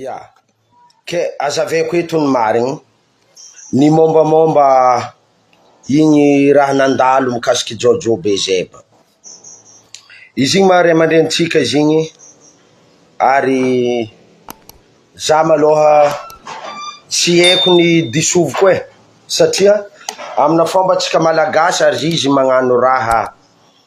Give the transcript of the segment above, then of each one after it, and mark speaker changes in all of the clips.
Speaker 1: Ia, ke azaveko eto ny marigny, ny mombamomba igny raha nandalo mikasiky jojo be zay ba, izy igny maha ray aman-drenintsika izy igny ary za maloha tsy heko ny disoviko e, satria amina fomba antsika malagasy ary izy magnano raha.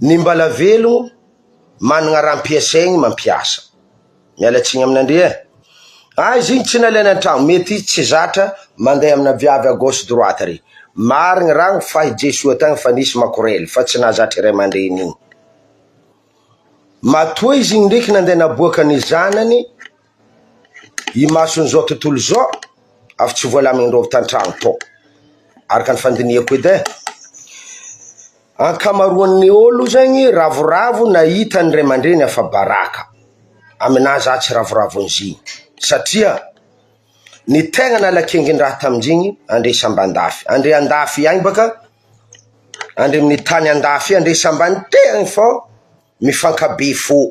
Speaker 1: Ny mbala velogno managna raha ampiasaigny mampiasa. Miala tsiny aminandria eh. Ah izy igny tsy nalainy antragno mety izy tsy zatra mandeha amina viavy à gauche droite re. Marigny ragno fa i Jesoa tagny fa nisy makorely fa tsy nahazatra i raimandreny igny. Matoa izy igny ndreky nandeha naboaka ny zanany. Imason'izao tontolo izao, avy tsy voalamin-drova tan-trano tao, araka ny fandinihako edy e. Ankamaroan'ny olo zegny ravoravo nahita ny ray aman-dreny afa-baraka, aminahy za tsy ravoravo an'izigny satria ny tegna nala kingin-draha tamin-jigny andre sambà an-dafy, andre an-dafy agny baka, andre amin'ny tany an-dafy andre sambà an-tegna fô mifankabe fô.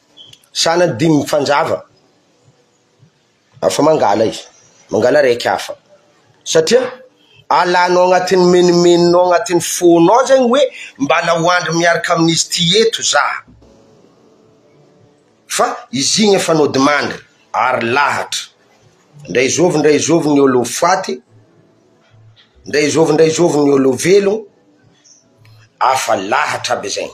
Speaker 1: Sanany dimy mifanjava, afa mangala izy, mangala araiky hafa, satria alanao agnatin'ny menomenonao agnatin'ny fonao zegny hoe mbala ho andry miaraka amin'izy ty eto za, fa izy igny efa nodimandry ary lahatra, ndray zovy ndray zovy ny olo faty, ndray zovy ndray zovy ny olo velogno, afa lahatra aby zegny.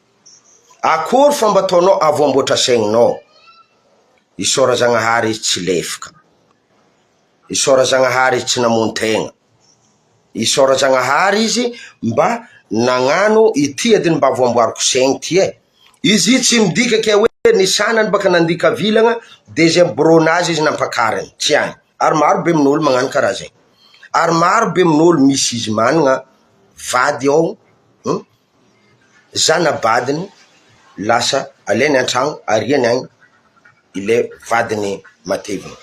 Speaker 1: Akory fa mba ataonao avo amboatra saininao. Isaora Zagnahary izy tsy lefoka. Isaora Zagnahary izy tsy namono tegna. Isaora Zagnahary izy mba nagnano ity adiny mba voamboariko saigny ty e. Izy io tsy midika ke hoe ny sanany baka nandika vilagna de zay miborogna azy izy nampakariny, tsy agny. Ary maro be min'olo magnano karaha zay. Ary maro be min'olo misy izy managna vady ao, hum. zana-badiny lasa alainy an-trano ariany any ilay vadiny matevina,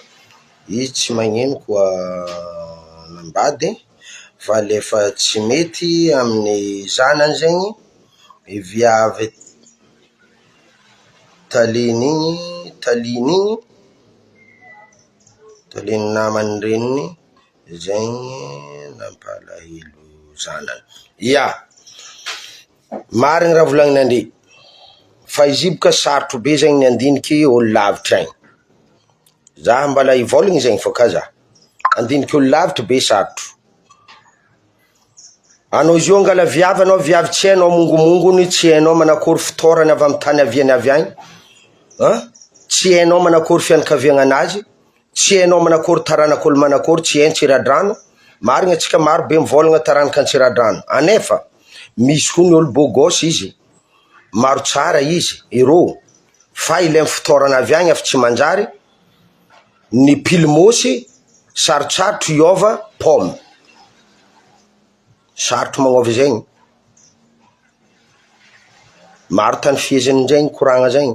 Speaker 1: izy tsy magnino koa nambady fa le efa tsy mety amin'ny zanany zegny i viavy taliny igny taliny igny, taliny naman'ny reniny. Izay nampalahelo zanany, ia, marigny raha volagninandria fa izy io boka sarotro be zay ny handiniky olo lavitra agny, za mbala hivolagna zay fa ka za, handiniky olo lavitry be sarotro, anao izy io angala viavy anao viavy tsy hainao mongomongony tsy hainao manakory fitaorany avy amin'ny tany aviany avy agny an, tsy hainao manakory fianakaviagnanazy. Tsy hainao manakory taranaka olo manakory tsy hain tsiradrano marigny atsika maro be mivolagna taranaka antsiradrano anefa misy koa ny olo beau gosse izy maro tsara izy iro fa ilainy fitaorana avy agny efa tsy manjary ny pily mosy sarotsarotro hiova pomme sarotro magnova zegny maro tany fiheziny zegny koragna zegny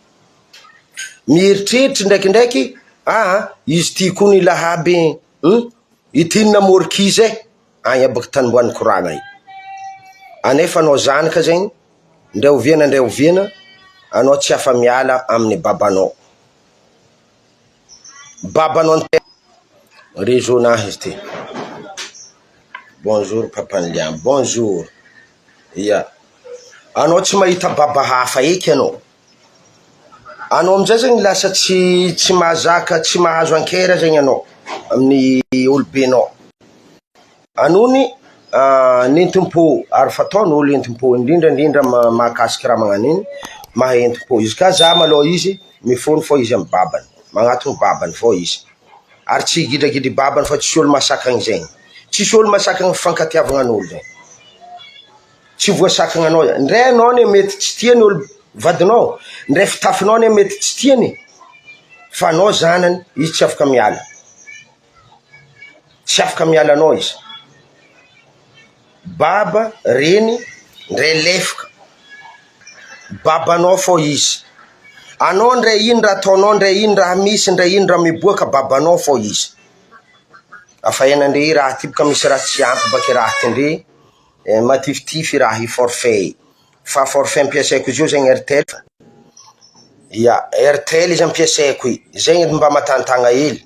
Speaker 1: Mieritreritry ndraikindraiky aho an, izy ity koa ny lahaby hum, ity ny namory kizy ahy any abaka tany ambany korana any, anefa anao zanaka zegny ndray oviana ndray oviana anao tsy afa-miala amin'ny babanao. Babanao an-tena. Réseau nahy izy ty. Bonjour papan'i Liam, bonjour, ia, anao tsy mahita baba hafa eky anao, anao amizay zany lasa tsy tsy mahazaka tsy mahazo an-kera zegny anao amin'ny olobenao. Anony ny entim-po ary fataon' olo entim-po indrindra indrindra mahakasika raha magnano iny maha entim-po izy ka za malôha izy mifogno fô izy amy babany magnatogno babany fô izy ary tsy gidragidry babany fa tsy olo mahasakagny zegny tsisy olo mahasakagny fifankatiavagna an'olo zay tsy voasakagny anao zay ndre anao ne mety tsy tia ny olo vadinao ndre fitafinao ne mety tsy tiany fa anao zanany izy tsy afaka miala. tsy afaka miala anao izy, baba, reny, ndray lefoka, babanao foa izy, anao ndray ino raha ataonao ndray ino raha misy ndray ino raha miboaka babanao foa izy, afa ena ndry i Ratiboka misy raha tsy ampy baka i Raty ndry eh, matifitify i Raha i forfait, fa forfait ampiasaiko izy io zegny airtel, ia airtel izy ampiasaiko i, zegny edy mba matanitagna hely.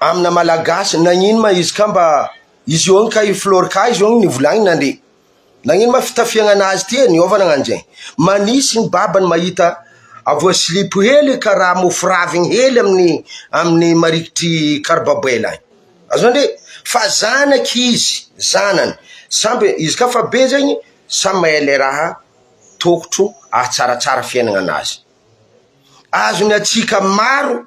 Speaker 1: amina malagasy nagnino ma izy ka mba izy eo ka i flor ka izy eo nivolagnina ndry nagnino ma fitafiagna anazy ty e niova nagnano zegny magnisy ny babany mahita avo silipo hely karaha mofo raviny hely amin'ny amin'ny marikitry karbabaila any azony ndry fa zanaky izy zanany samby izy ka fa be zegny samy mahay le raha tokotro ahatsaratsara fiaignana anazy azony atsika maro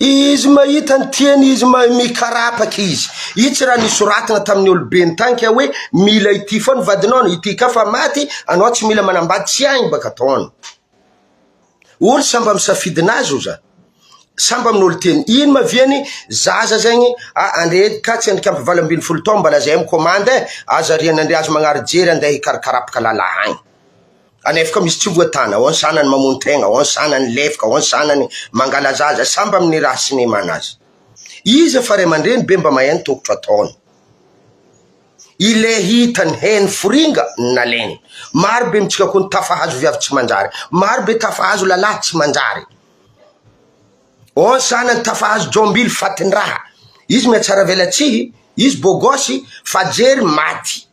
Speaker 1: Izy mahita ny tiany, izy mahay mikarapaka izy. Itsy raha nisoratana tamin'ny olobe nitanika hoe mila ity foana vadinao, ity ka fa maty, anao tsy mila manambady tsy hainy baka ataony. Olo samba misafidy nazy oza, samba minolo teny, ino ma viany zaza zegny ah andre ka tsy andrikambo valo ambin'ny folo taogno mbala zay mi commande eh, aza rianandria aza magnary jery andeha hikarakarapaka lala agny. Anefa misy tsy voatana, ao ny zanany mamono tegna, ao ny zanany lefaka, ao ny zanany mangalaza azy, samby amin' ny raha sy ny mana azy. Iza fa ray aman-dreny be mba mahay ny tokotro ataony. Ilay hita ny heny foringa ny naleny. Maro be amintsika koa ny tafahazo viavy tsy manjary. Maro be tafahazo lalahy tsy manjary. Ao ny zanany tafahazo jombily fatin-draha. Izy mihatsaravelatsihy, izy bôgôsy, fajery maty.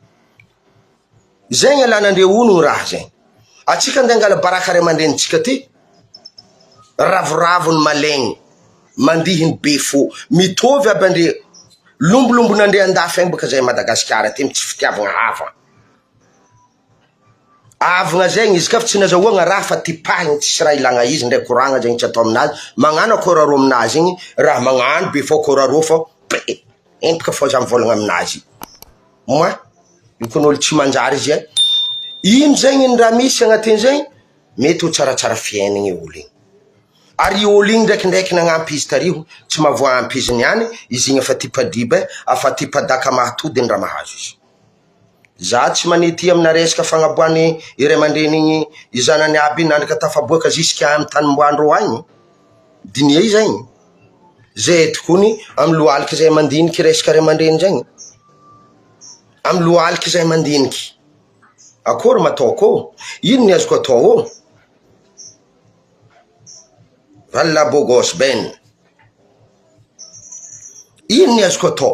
Speaker 1: Zay ny alanandreo hono ny raha zay. Atsika nde angala baraka ray amandrenintsika ty. Ravoravo ny malin, mandihy ny be fo. Mitovy aby andre. Lombolombonandre andafy any baka zay Madagasikara ty tsy fitiavagna hava. Avagna zegny izy ka fa tsy nazahoagna raha fa tipahigny tsisy raha ilagna izy ndray koragna zegny tsy atao aminazy, magnano akôra rô aminazy igny raha magnano be fô akôra rô fô be. Entiko fa za mivôlagna aminazy, moa io kony olo tsy manjary izy e, ino zegny ino raha misy agnatin zegny mety ho tsaratsara fiainagny olo igny, ary io olo igny ndraikindraiky nagnampy izy tariho tsy mahavoa ampy izy niany, izy igny efa tipa-diba e, afa tipa-daka mahatody ny raha mahazo izy. Za tsy manety amina resaka fagnaboahan'ny ray aman-dreny i zanany aby nandraka tafaboaka ziska any tanimboandro any diniha izay e, zay edy kony amin'ny lohalika zay mandinika resaka ray aman-dreny zay, amin'ny lohalika zay mandinika, akory ma atao ko? Ino ny azoko atao ô? R'allabogos ben, ino ny azoko atao?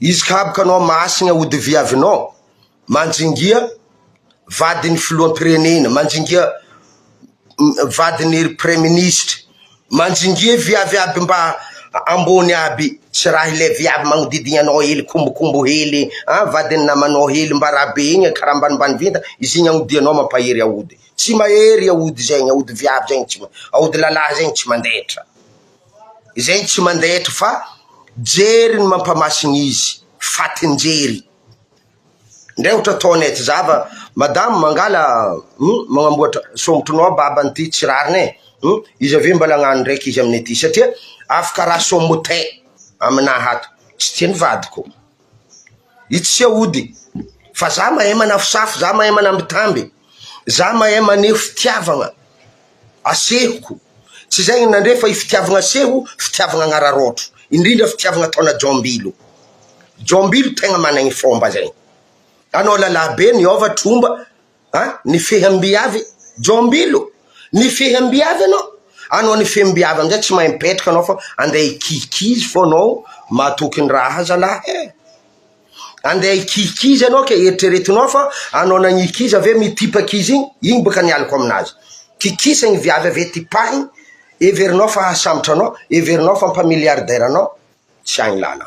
Speaker 1: Izy kab kanao mahasigna hody viavinao manjingia vadiny filohampirenena manjingia vadiny praiministra manjingia viavy aby mba ambony aby tsy raha ilay viavy magnodidigna anao hely kombokombo hely an vadiny namanao hely mba raha be igny karaha ambanimbany vinta izy igny agnodianao mampahery aody tsy mahery aody zegny aody viavy zegny tsy aody lalahy zegny tsy mandaitra Izay no tsy mandaitra fa jery ny mampamasina izy fatin-jery indray ohatra ataony aty zava madame mangala hum magnamboatra sombotronao a baba an'ity tsy rariny e hum izy avy eo mbala agnano ndraiky izy aminay aty satria afaka raha somote aminaha ato tsy tian'ny vadiko Itsy sy aody fa za mahay manafosafo, za mahay manambitamby, za mahay maneho fitiavagna asehoko, tsy izay ino nandre fa i fitiavagna aseho fitiavagna agnararaotro, indrindra fitiavagna ataona jombilo, jombilo tegna managny fomba zegny, anao lalabe niova tromba. An! Nifehy amim-biavy Jombilo! Nifehy amim-biavy ianao? Anao nifehy amim-biavy amin'izay tsy mahay mipetraka anao fa andeha hikizikizy foana ao mahatoky ny ra aza lah e! Andeha hikizikizy ianao ka eritreretinao fa anao nagniky izy avy eo mitipaka izy igny, igny boka ny aliko aminazy. Kikisany ny viavy avy eo tipahiny, heverinao fa hahasambotra anao, heverinao fa mpa-milliardaire anao, tsy agny lala.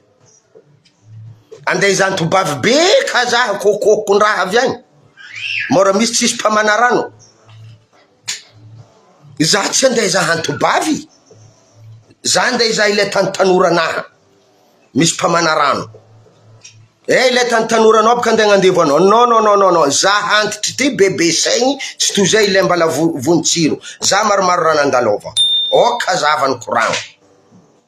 Speaker 1: Andeha izany tobavy be ka za kokokondraha avy agny mora misy tsisy mpamana rano za tsy andeha izaha ny tobavy za andeha izaha ilay tany tanora anaha misy mpamana rano eh ilay tany tanora anao boka andeha agnandevo anao non non non non non za antitry ty bebe saigny tsy toy izay ilay mbala vo- vonjy jiro za maromaro raha nandalova ok za avy any koragno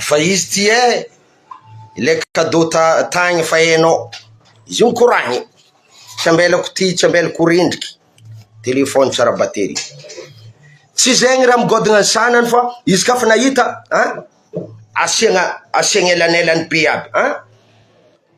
Speaker 1: Efa izy ity e! Ilay cadeau tagny efa hainao, izy io mikoragna e! tsy ambelako ity, tsy ambelako ho rendrika, téléphone tsara batterie, tsy zegny raha migodogna ny sagnany fa izy ka fa nahita an! asiagna asiagna elanelany be aby an!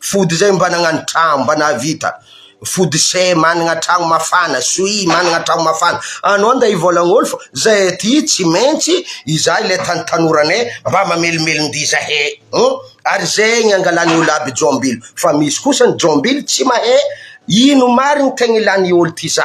Speaker 1: Fody zay mba nagnano tragno mba nahavita fody se managna tragno mafana soii managna tragno mafana anao nda hivolagnoly fa zay aty tsy maintsy iza ilay tany tanoranay mba mamelomelondia zahe hum ary zegny angalany olo aby jombilo fa misy kosa ny jombilo tsy mahe ino marigny tegna ilany olo ty za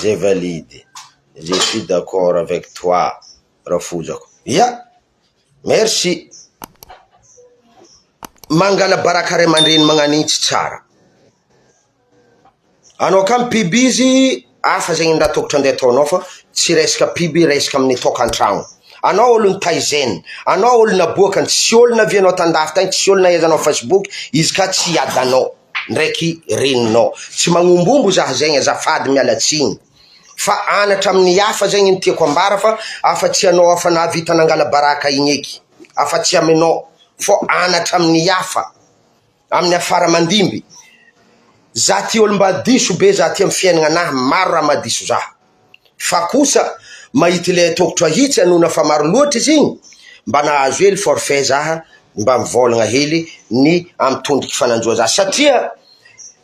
Speaker 1: Zay valide, je suis d'accord avec toi Rafozako, ya merci, mangala baraka ray aman-dreny magnan'intsy tsara. Anao ka mpibiby izy hafa zegny nda tokotry ande ataonao fa tsy resaka mpiby resaka aminy tokantragno anao olo nitaizen anao olo naboaka ny tsy olo navianao tandafy tagny tsy olo nahaiza anao facebook izy ka tsy hiadanao ndraiky reninao tsy magnombombo zah zegny azafady miala tsigny fa anatra aminy hafa zegny ny tiako ambara fa afa tsy anao afa nahavita nangala baraka igny eky afa tsy aminao fô anatra aminy hafa Amin'ny afara mandimby. Za ty olo mba diso be za ty am fiainagna nah maro raha mahadiso za fa kosa mahita ilay ataoko trahitsy anona fa maro loatra izy igny mba nahazo hely forfait za mba mivôlagna hely ny am tondroky fa nanjoa za satria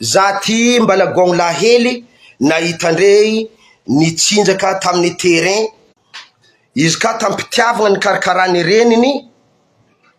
Speaker 1: za ty mba lagôgno lahy hely nahita ndre nitsinjaka taminy terrain izy ka tam pitiavagna nikarakarany reniny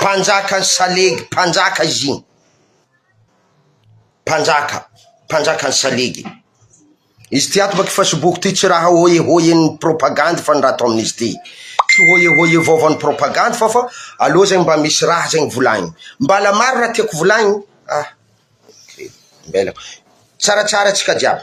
Speaker 1: Mpanjaka ny salegy mpanjaka izy igny mpanjaka mpanjaka ny salegy izy ty ato baky facebook ty tsy raha hoye hoye ny propagandy fa ny raha atao amin'izy ty tsy hoye hoye vaovao ny propagandy fa fa aloha zay mba misy raha zay ny volagny mbala maro raha tiako volagny ah mbela tsaratsara tsika jiaby